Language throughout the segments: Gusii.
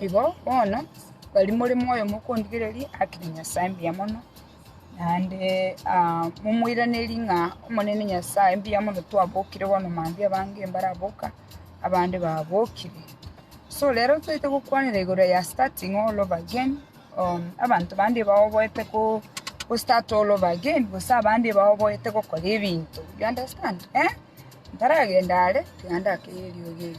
Igo bono, baria more moyo mokondigereria haki ya Nyasae mbuya mono, naende momoiranerie ng'a Omonene Nyasae mbuya mono twabokire bono mambia abange mbaraboka, abande babokire. So rero toite gokwanera igoro ya starting all over again, abanto bande baoboete ko- go start all over again, gose abande baoboete gokora ebinto, you understand, eh? Ntaragenda are, tiga ndake erio erio.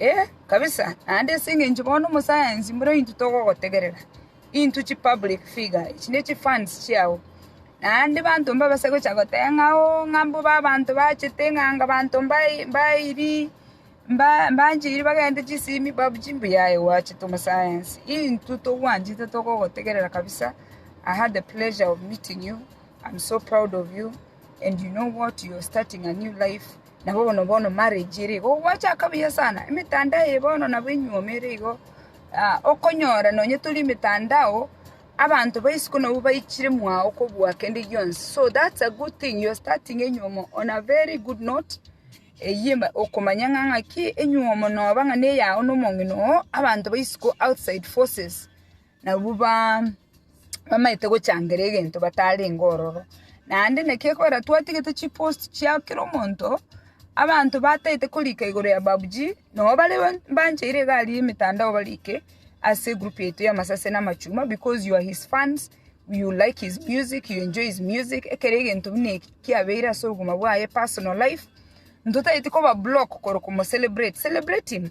Ee, kabisa, naende ase engencho bono omosayansi mbura intwe togogotegerera, intwe chi public figure, echi ne chifans chiao, naende banto mbabe ase gocha goteba ng'a oo ng'a mbobe abanto bachete ng'a anga abanto mbai mbairi mba mbanchiri bagende chisimi babu chi mbuya aye gwachete omosayansi, intwe togwanchete togogotegerera kabisa, I had the pleasure of meeting you, I'm so proud of you. and you know what you are starting a new life nabo bono bono marriage ere igo gwachaka buya sana emetandao eye bono nabo enyiomi ere igo ah, okonyora nonye tori emetandao abanto baisiko nabo baichire mwao kobua kende gionsi so that's a good thing you are starting enyiomo on a very good note eyie ma- okomanya ng'a ng'aki enyiomo noba ng'a neyao na omong'ina oo abanto baisiko outside forces Nabwo bamaete gochangera egento batarenge ororo. Naende naki ekobera twatigete chipost chia kera omonto, abanto bataete korika igoro ya babuji, nobo bare bancheire egari ya emetandao barike ase egroup yaito ya masase na amachuma because you are his fans, you like his music, you enjoy his music, ekero egento buna eki kiabeire ase obogima bwaye, personal life, ntotaeti koba block korokwa omo celebrate, celebrate him.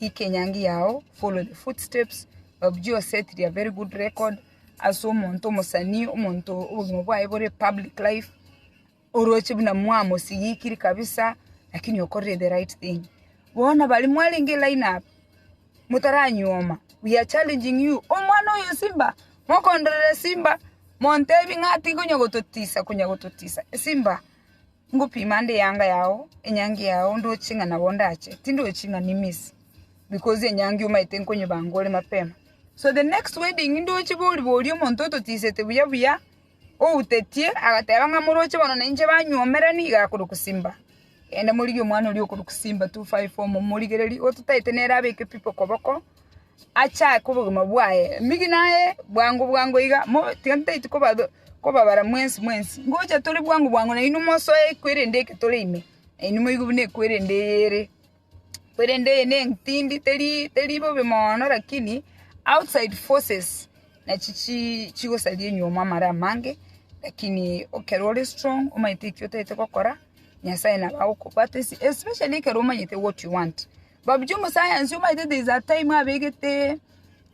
Ika enyangi yao, follow the footsteps of Josette ria very good record ase omonto omosanii, omonto obogima bwaye bore public life, oroche buna mwamosigikiri kabisa lakini okorire the right thing. Bono baria mwarenge line up motaranyuoma, we are challenging you, omwana oyo Simba, mokondorere Simba, montebi ng'a tiga onya gototisa, konya gototisa, Simba Ngopima ande eanga yao, enyangi yao, ndoche ng'a nabo ndache, tindochi ng'a nimisi, because enyangi omaete nkonyebanga ore mapema. So the next wedding ndoche bori bori omonto ototisete buya buya, outetie, agateba ng'a moroche bono na inche banyuomera niga akorokwa Simba. Genda morigie omwana oria okorokwa Simba 254 momorigererie, ototaete nere abeke people koboko, Achaake obogima bwaye. Mbigi naye bwango bwango iga, tiga ntaiti kobabara mwensi mwensi. Ngocha tore bwango bwango nainwe mosoe ekwerende eke tore ime, nainwe moigo buna ekwerende eye ere. Ekwerende eye nentindi teri teri bobe moono lakini outside forces nachi chi chigosaria enyuoma amare amange, lakini ekero ore strong omanyete ekio otaete gokora, Nyasaye nabo agokobwatesi especially ekero omanyete what you want. Babuche omosayansi omaete there is a time abegete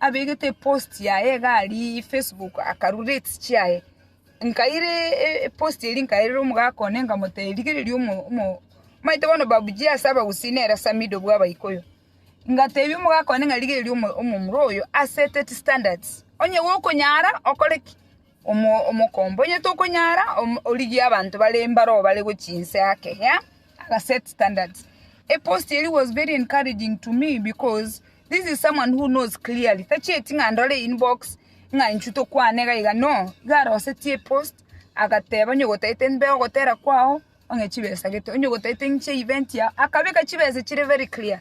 abegete epost yaye iga aria facebook akarwa rates chiaye nkaira e- epost eria nkairera omogaka one nkamotebia rigereria omo omo omaete bono babuchie ase abagusii nere samido bwa abaikoyo ngatebia omogaka one ng'a rigereria omo omomura oyo aseteti standards onye gokonyara okore ki Omokombonyete okonyara origie abanto bare mbaro bare gochia inse ake yeah aga set standards epost eri was very encouraging to me because this is someone who knows clearly tachieti ng'a ndore inbox ng'a intwe tokwane iga iga no iga aroseti epost agateba onye ogotaete mbe ogotera kwao ong'e chibesa gete onye ogotaete ng'che event yao akabeka chibesa chire very clear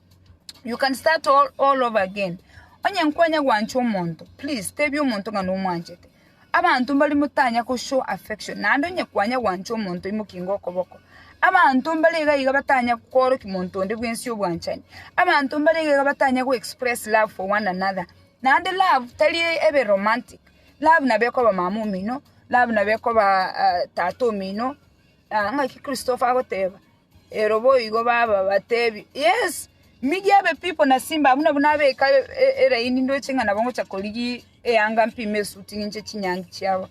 You can start all, all over again. Onye nkwanya gwancha omonto, please tebi omonto ng'a nomwanchete. Abanto mbari motanya ko show affection, naende onye kwanya gwancha omonto imokinga okoboko. Abanto mbare iga iga batanya kooroki monto onde bwensi obwanchani. Abanto mbare iga iga batanya go express love for one another. Naende love tari ebe romantic. Love nabo ekoba mama omino, love nabo ekoba ah, tata omino. Ah, ng'aki Christopher agoteba. Ero boigo babateebie, Yeso, migia ebipipo na simba abwo na buna abeka eraini ndoche ng'a nabo ngocha korigia eanga mpime esuti ng'inche chinyangi chiabo.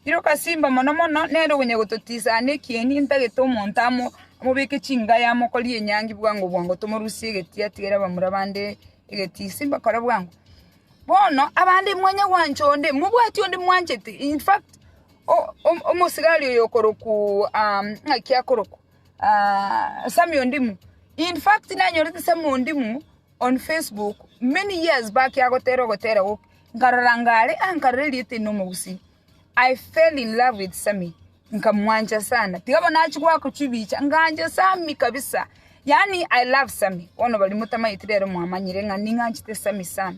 Iroka simba mono mono, nere okonya gototiisa aane ekieni, ntagete omonto amo amobeke chingayi amokorie enyangi bwango bwango tomorusie egetii atigere abamura bande egetii. Simba kora bwango. Bono abande mwanya gwancha onde, mobwati onde mwanchete, in fact. omosigari oyo okorokwa ng'aki akorokwa Sammy Ondimu. In fact nanyorete Sammy Ondimu on Facebook many years back agotera ogotera gokia, nkarora anga are ah nkarora erieta eri nomogusii. I fell in love with Sammy nkamwancha sana tiga bono achia goaka chibicha ngancha Sammy kabisa yaani I love Sammy bono baria motamaeti rero mwamanyire ng'a ning'anchete Sammy sana.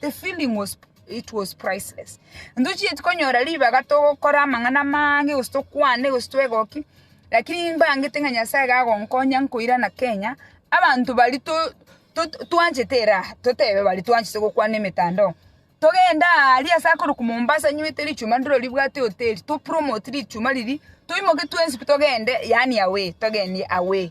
The feeling was it was priceless. Ntochieti konyora ribaga togokora amang'ana amange gose tokwane gose twegoki, lakini mbangete ng'a Nyasaye iga agonkonya nkoirana Kenya, abanto baria to- to- twanchete eraha, totebe baria twanchete gokwana emetandao, togende aaria ase akorokwa Mombasa nywete richuma ndiro ribwate hoteli, topromote richuma riria, toimoke twensi pi togende yaani away, togenie away.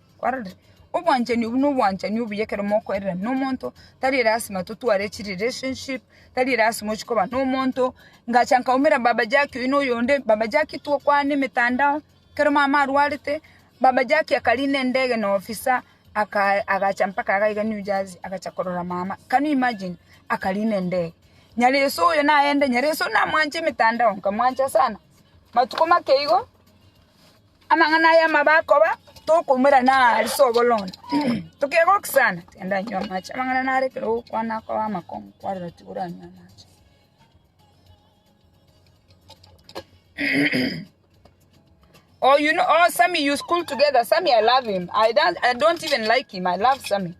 Kwarorire? Obwanchani obwo nobwanchani obuya ekero mokoirera nomonto, tari lasima totware chi relationship, tari lasima ochie koba nomonto, ngacha nkaumera baba Jackie oyo na oyonde, baba Jackie tokwana emetandao, ekero mama arwarete, baba Jackie akarinda endege na officer, aka agacha mpaka iga iga New Jersey agacha korora mama, can you imagine? Akarinda endege. Nyaresu oyo naende, Nyaresu namwancha emetandao, nkamwancha sana, matuko make igo. Amang'ana aya amabe akoba tokoumera na ase oboronge, tokegoki sana, genda inywa amache. Amang'ana naro ekero ogokwana akoba amakong'u kwarora tikoranywa amache. Oh you know oh Sammy you school together Sammy I love him I don't, I don't even like him I love Sammy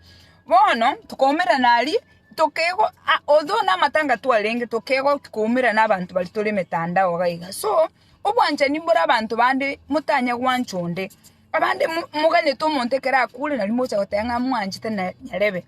bono tokoumerana aria tokego ah, although namatanga twarenge tokegoki koumerana abanto baria tore emetandao iga iga so Obwanchani mbore abanto bande, motanya gwancha onde. Abande moganete omonto ekero akure nari mogocha goteba ng'a mwanchete na nyarebe.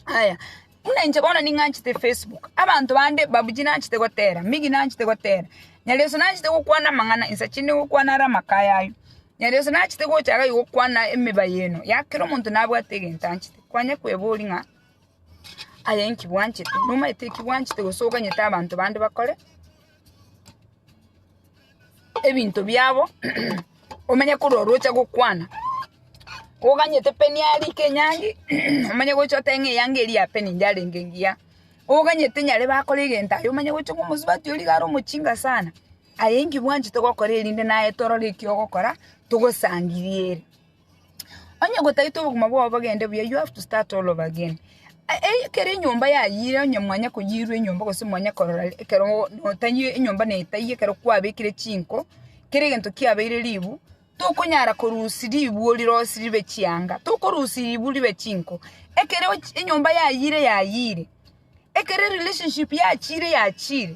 Aya, buna inche bono ning'anchete Facebook, abanto bande babuchie nanchete gotera, Miggy nanchete gotera, Nyarioso nanchete gokwana amang'ana, insache inde gokwana are amaka aya ayio. Nyarioso nachete gocha iga gokwana emeba eye eno, ya kera omonto nabwate egento anchete. Kwanya kweboria ng'a aye inki bwanchete, nomaete eki bwanchete gose oganyete abanto bande bakore. ebinto biabo omenye kore oroche gokwana oganyete peni arike enyangi omanye gocha otebe ng'a eyanga eria ya peni yarenge engiya oganyete nyare bakore egento aye omanye gocha ng'a omosubati oria iga are omochinga sana aye inki bwanchete gokora erinde naye torore eki ogokora togosangiriere. Onye gotaete obogima bwao bogende buya you have to start all over again. Ekero enyomba yayire onye mwanya koyirwa enyomba gose mwanya korora ekero notaiyo enyomba netaiyo ekero kwabekire chinko kera egento kiabeire ribu tokonyara korusia ribu rirosi ribe chianga tokorusia ribu ribe chinko ekero enyomba yayire yayire ekero erelationship yachire yachire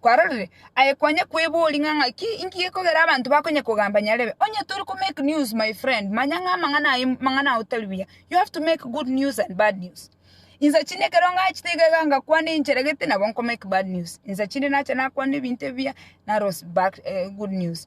Kwarorire aye kwanya kwebori ng'a ng'aki inki gekogera abanto bakonya kogamba nyarebe. Onye tori ko make news my friend manya ng'a amang'ana aye mang'ana otari buya. You have to make good news and bad news. Insa chinde ekero ngachete iga iga ngakwana enchera gete nabo nko make bad news. Insa chinde nacha nakwana ebinto ebiya narosie bad eh, good news.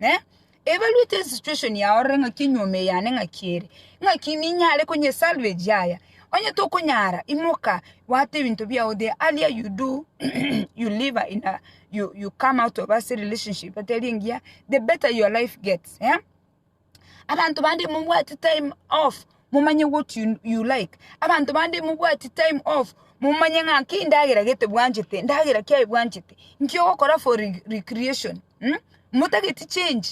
eh, ebaruete situation yao rore ng'aki enyuoma eyane ng'aki ere, ng'aki ninyare konye salvage yaya, onye tokonyara imoka bwate ebinto biao the earlier you do you live in a, you, you come out of ase relationship etari engiya the better your life gets eh? abanto bande momwate time off momanye what you, you like abanto bande mobwati time off momanye ng'a ki ndagera gete bwanchete ndagera kiaye bwanchete nki ogokora for re- recreation mm? motageti change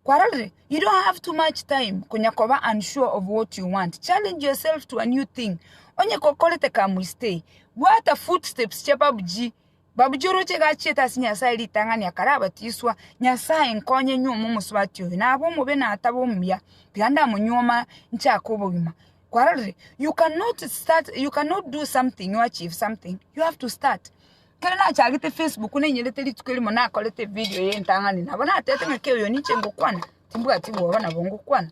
kwarorire you don't have too much time konya koba unsure of what you want challenge yourself to a new thing onye kokorete kamuistei bwata footsteps chia pubg Babuchoroche gacheta ase Nyasae ritang'ani akare abatiswa, Nyasae nkonye nyuoma omosubati oyo, nabe omobe natabe omuya, tiga ndamonyuoma nchake obogima. Kwarorire, you cannot start, you cannot do something or achieve something, you have to start. Kero nachagete Facebook nainyerete rituko erimo nakorete evideo ya entang'ani, nabo natete ng'a kei oyo ninche ngokwana, timbwati bwoba nabo ngokwana.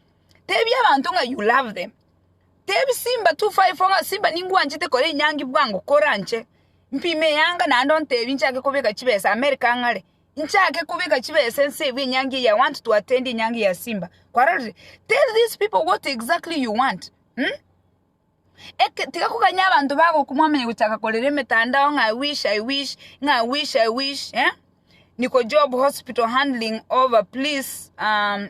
Tebia abanto ng'a you love them. Tebia simba 254 ng'a simba ningwanchete kore enyangi bwango kore anche, mpime eyanga naende ontebie nchake kobeka chibesa America ang'are, nchake kobeka chibesa ense ebu enyangi eye I want to attend enyangi ya simba. Kwarorire? Tell these people what exactly you want um eke tiga koganya abanto bagoku mwamanya gochaka korera emetandao ng'a I wish I wish ng'a I wish I wish eh, niko job hospital handling over please um.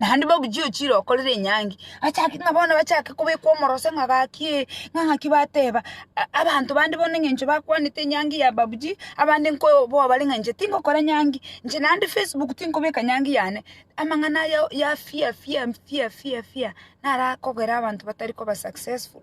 Naende babuchie ochire okorera enyangi, achake ng'a bono bachake kobekwa omoroso ng'a gaki ee, ng'a ng'aki bateba, a- abanto bande bono eng'encho bakwanete enyangi ya babuji, abande nkoboa bare ng'a inche tingokora nyangi, inche naende facebook tinkobeka nyangi yane, amang'ana aya o- ya fear fear fear fear fear, naro akogera abanto batari koba successful.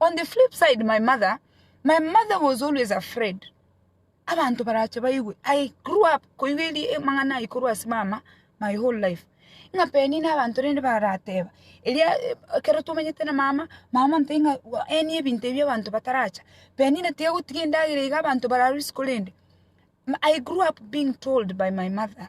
On the flip side my mother, my mother was always afraid abanto barache baigwe. I grew up koigwa eri amang'ana aye korwa ase mama my whole life. Ng'a peni na abanto rende barateba, eria eh, ekero tomenyete na mama, mama ntari ng'a wa- eni ebinto ebi abanto bataracha. Penina tiga gotiga endagera iga abanto bararwe isiko rende. M- I grew up being told by my mother.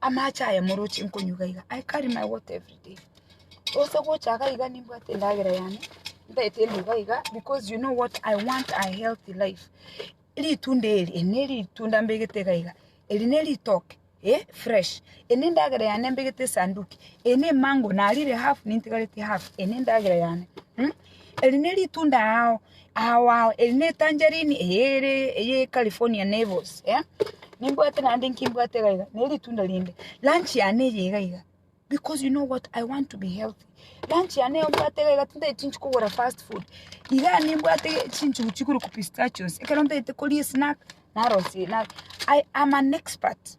Amache aya moroche nkonyuga iga. I carry my water every day. Ose gocha iga iga nimbwate endagera yane. Ntaete ende iga iga because you know what I want a healthy life. Ritunda eri, eri ne ritunda mbegete iga iga. Eri ne ritoke, eh, fresh. Eri ne endagera yane mbegete esanduki. Eri ne mango narire half nintigareti half. Eri ne endagera yane. Hmm? Eri neritunda ao ao ao, eri ne tangerine eye ere eye California neighbors eh, nimbwate naende inki mbwate iga iga, neritunda rinde. Lunch yane eye iga iga, because you know what, I want to be healthy. Lunch yane eye mbwate iga iga, tintagete chinchi kogora fast food. Iga nimbwate chinchugu chiguru ku pistachios, ekero ntagete koria esnack, narosia enack. I am an expert.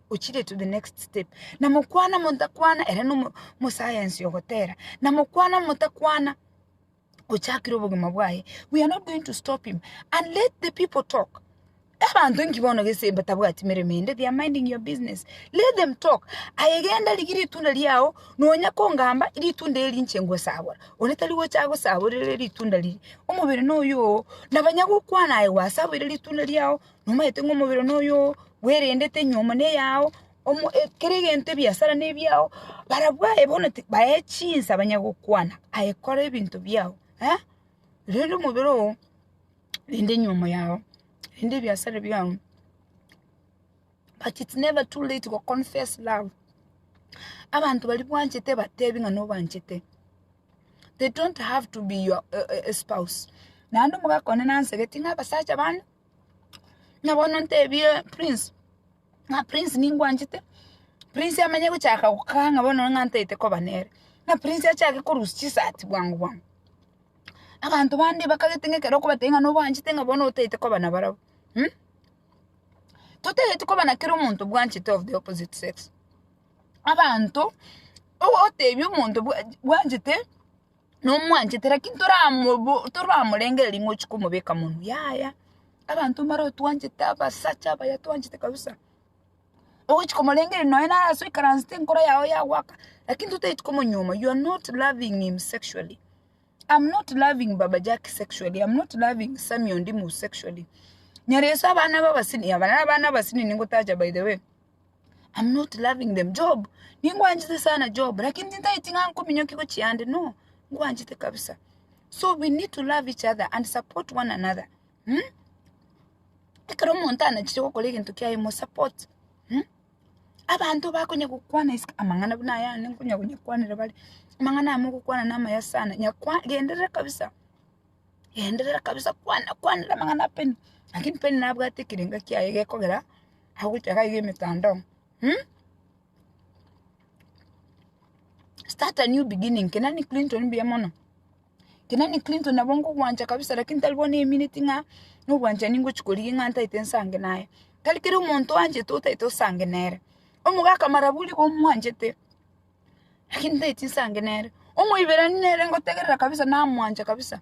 ochire to the next step. Na mokwana montakwana ere no mo- mosayansi ogotera. Na mokwana motakwana ochakire obogima bwaye. We are not going to stop him and let the people talk. Abanto nki bono gese batabwati meremo ende they are minding your business. Let them talk. Aye genda rigia ritunda riao nonya kongamba ritunda eri inche ngosabora. One tari gocha agosaborere ritunda riria. Omobere noyo oo. Na banya gokwana aye gwasaboire ritunda riao nomaete ng'a omobere one oyo bwerendete nyiomo neyao, omo kera egento ebiasara nebiao, barabwo aye bono ti bae chinsa banya gokwana, aye kora ebinto biao rende omobere oo, rende nyiomo yao, rende ebiasara biao, but it's never too late to confess love, abanto baria bwanchete batebi ng'a nobanchete, they don't have to be your spouse, naende omogaka one nansegeti ng'a abasacha bande. Ng'a bono ntebie prince, ng'a prince ningwanchete, prince amenye gochaka gokaa ng'a bono ng'a ntaete koba nere, ng'a prince achake korusia chisati bwango bwango. Abanto bande bakagete ng'a ekero okobatebia ng'a nobaanchete ng'a bono otaete koba nabarabwo totageti koba na kera omonto obwanchete of the opposite sex, abanto, ogotebia omonto bwa bwanchete nomwanchete lakini toramobo toramorengereria ng'a ochie komobeka monwe yaya abanto mbare otwanchete abasacha abaya twanchete kabisa ogochi komorengeria nonye naro ase oikaransete enkoro yago yagoaka lakini totaeti komonyuoma you are not loving him sexually am not loving baba jack sexually am not loving sammy ondimu sexually nyaroise abana baba senior abana abana abasinior ningotacha by the way. I'm not loving them Job ningwanchete sana Job lakini tintaeti ng'a nkominyokigwe chiande no ngwanchete kabisa so we need to love each other and support one another hmm? ekero omonto anachire gokora egento kiaye mo support hmm? abanto bakonya gokwana isiko amang'ana buna aya ande nkonya konyakwanera bare amang'ana amo ogokwana na amaya sana nyakwa genderera kabisa genderera kabisa kwana kwanera amang'ana apeni lakini peni nabwate ekerenga kiaye gekogera agocha iga iga emetandao um start a new beginning kenani clinton mbuya mono, kenani clinton nabo ngogwancha kabisa lakini tari bono emineti ng'a na obwanchani ngochi korigia ng'a ntaete nsange naye, tari kera omonto oanchete otaete osange nere, omogaka marabu riga omwanchete lakini ntaeti nsange nere, omoiberani nere ngotegerera kabisa namwancha kabisa.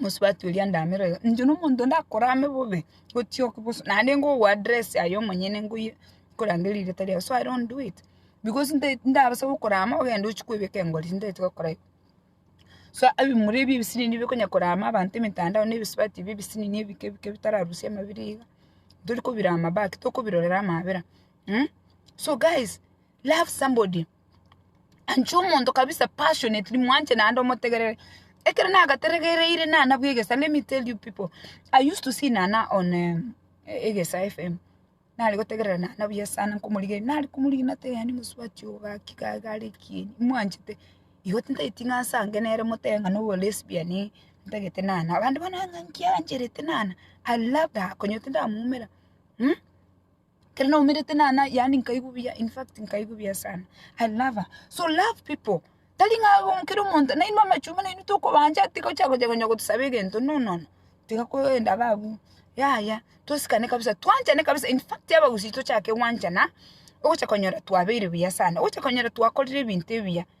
mosubati oria ndamera iga, inche na omonto onde akorame bobe, gochia oko bosu, naende nigo ogo address aye omonyene ngoyie nkorangerie rigeta riaye, so i don't do it, because nta ntabasa gokorama ogende ochie koebeka engori, tintaeti gokora igo. So ebimura ebi ebisiri nibi bikonya korama abanto emetandao na ebisubati ebi ebisiri na ebike ebike bitararusia amabera iga, ntori kobirama back, tokobirorera amabera mh, so guys love somebody. Anche omonto kabisa passionately mwanche naende omotegerere. Ekero nagategereire nana bwa egesa let me tell you pipo, I used to see nana on egesa FM, nare gotegerera nana buya sana nkomorigereria, nare komorigia nateba yaani mosubati oo gaki iga iga are ekieni, mwanchete? Igo tintageti ng'a ase ange nere motebe ng'a noboa lesbian ii, ntagete nana, abande bono ng'a nki arancherete nana, I loved her, konya tindamwoumera. Ekero naumerete nana yaani nkaigwa buya in fact nkaigwa buya sana. I love her. So love people. Tari ng'a um, kera omonto nainwe amachumba nainwe tokobancha ati gocha gocha konya gotosaba egento no no no. Tiga kogenda iga abwo. Yaya, tosikane kabisa, twanchane kabisa in fact abagusii tochake gwanchana, ogocha konyora twabeire buya sana, ogocha konyora twakorire ebinto ebiya.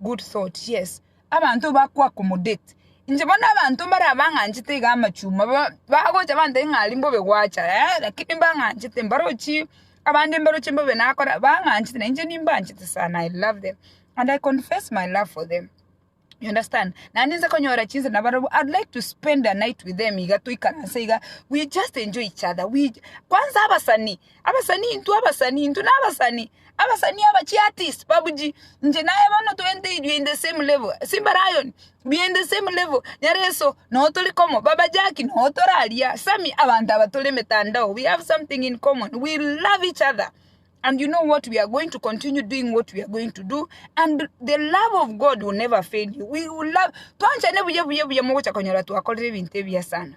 Good thought, yes. Abanto ba kwa accommodate. Inche bono abanto mbare abang'anchete iga amachuma ba- bagocha bantebia ng'a aria mbobe gwacha eh, lakini mbang'anchete mbarochi abande mbaroche mbobe nakora bang'anchete na inche nimbanchete sana, I love them and I confess my love for them, you understand? Naende inse konyora chinsa na barobwo, I'd like to spend a night with them iga toikaranse iga, we just enjoy each other, we kwanza abasani, Abasani intwe, abasani intwe, nabasani, abasani aba chiartist babuji, inche naye bono twente inywe in the same level, simba lion we are in the same level, nyareso noo tore komo, baba jaki noo tore aria, sammy abanto aba tore emetandao we have something in common, we love each other and you know what we are going to continue doing what we are going to do and the love of God will never fail you, we will love, twanchane buya buya buya mogocha konyora twakorire ebinto ebiya sana.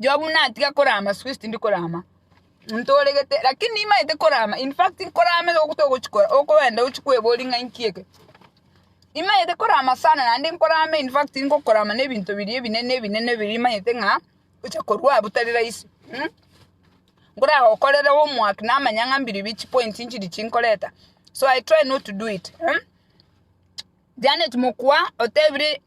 Job natiga korama siku esi tindi korama ntoregete lakini nimaete korama in fact korama igo togochi kora okoenda ochi kweboria ng'a inki eke. Nimaete korama sana naende nkorama in fact ngokorama na ebinto biria ebinene ebinene ebinene biria maete ng'a bigocha korwa abwo tari rahisi mh. Nkoragokorera homework namanya ng'a mbiribiri chipoints nchiri chinkoreta so I try not to do it mh. Janet mokwa otebire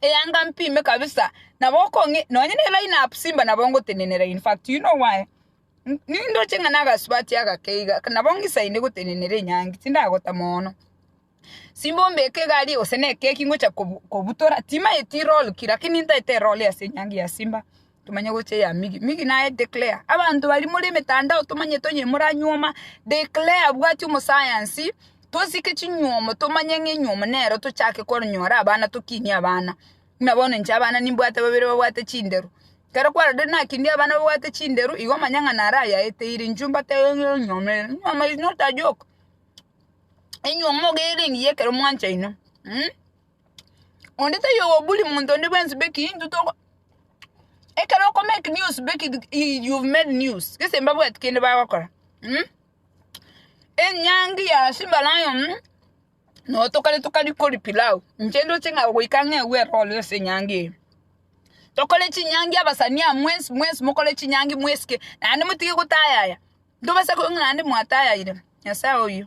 Eyanga mpime kabisa nabo okong'e nonye ne line up Simba nabo ngotenenera in fact you know why N- nindoche ng'a nagasubati agake iga nabo ng'isaine gotenenera enyangi tindagota mono Simba ombeke egari gose na ekeki ngocha kobu- kobutora timaeti roll ki lakini ntaete roll ase enyangi ya Simba Tomanye gocha eya Migi. Migi naye declare. Abanto baria more emetandao tomanyete onye moranyuoma declare abwati omosayansi tosike chinyuomo tomanye ng'a enyuomo nero tochake konyora abana tokinie abana. Buna bono inche abana nimbwate babere babwate chindero. Ekero kwarorire nakinie abana babwate chindero igo omanye ng'a naro ayaeteire inchuo mbatebie ng'a enyuomo eye enyuomo is not a joke. Enyuomo iga ere engiya ekero mwanchaine. onde taiyo ogobully monto onde bwensi beki intwe toko ekero oko make news beki you made news gese mbabwati kende bagokora enyangi ya simba lion notokore tokari kori pilau inche ndoche ng'a goika ng'a ewe eroro ase enyangi eye tokore chinyangi abasani aa mwensi mwensi mokore chinyangi mwesike naende motige gotayaya ntobasa koigwa ng'a naende mwatayaire nyasaye oyio.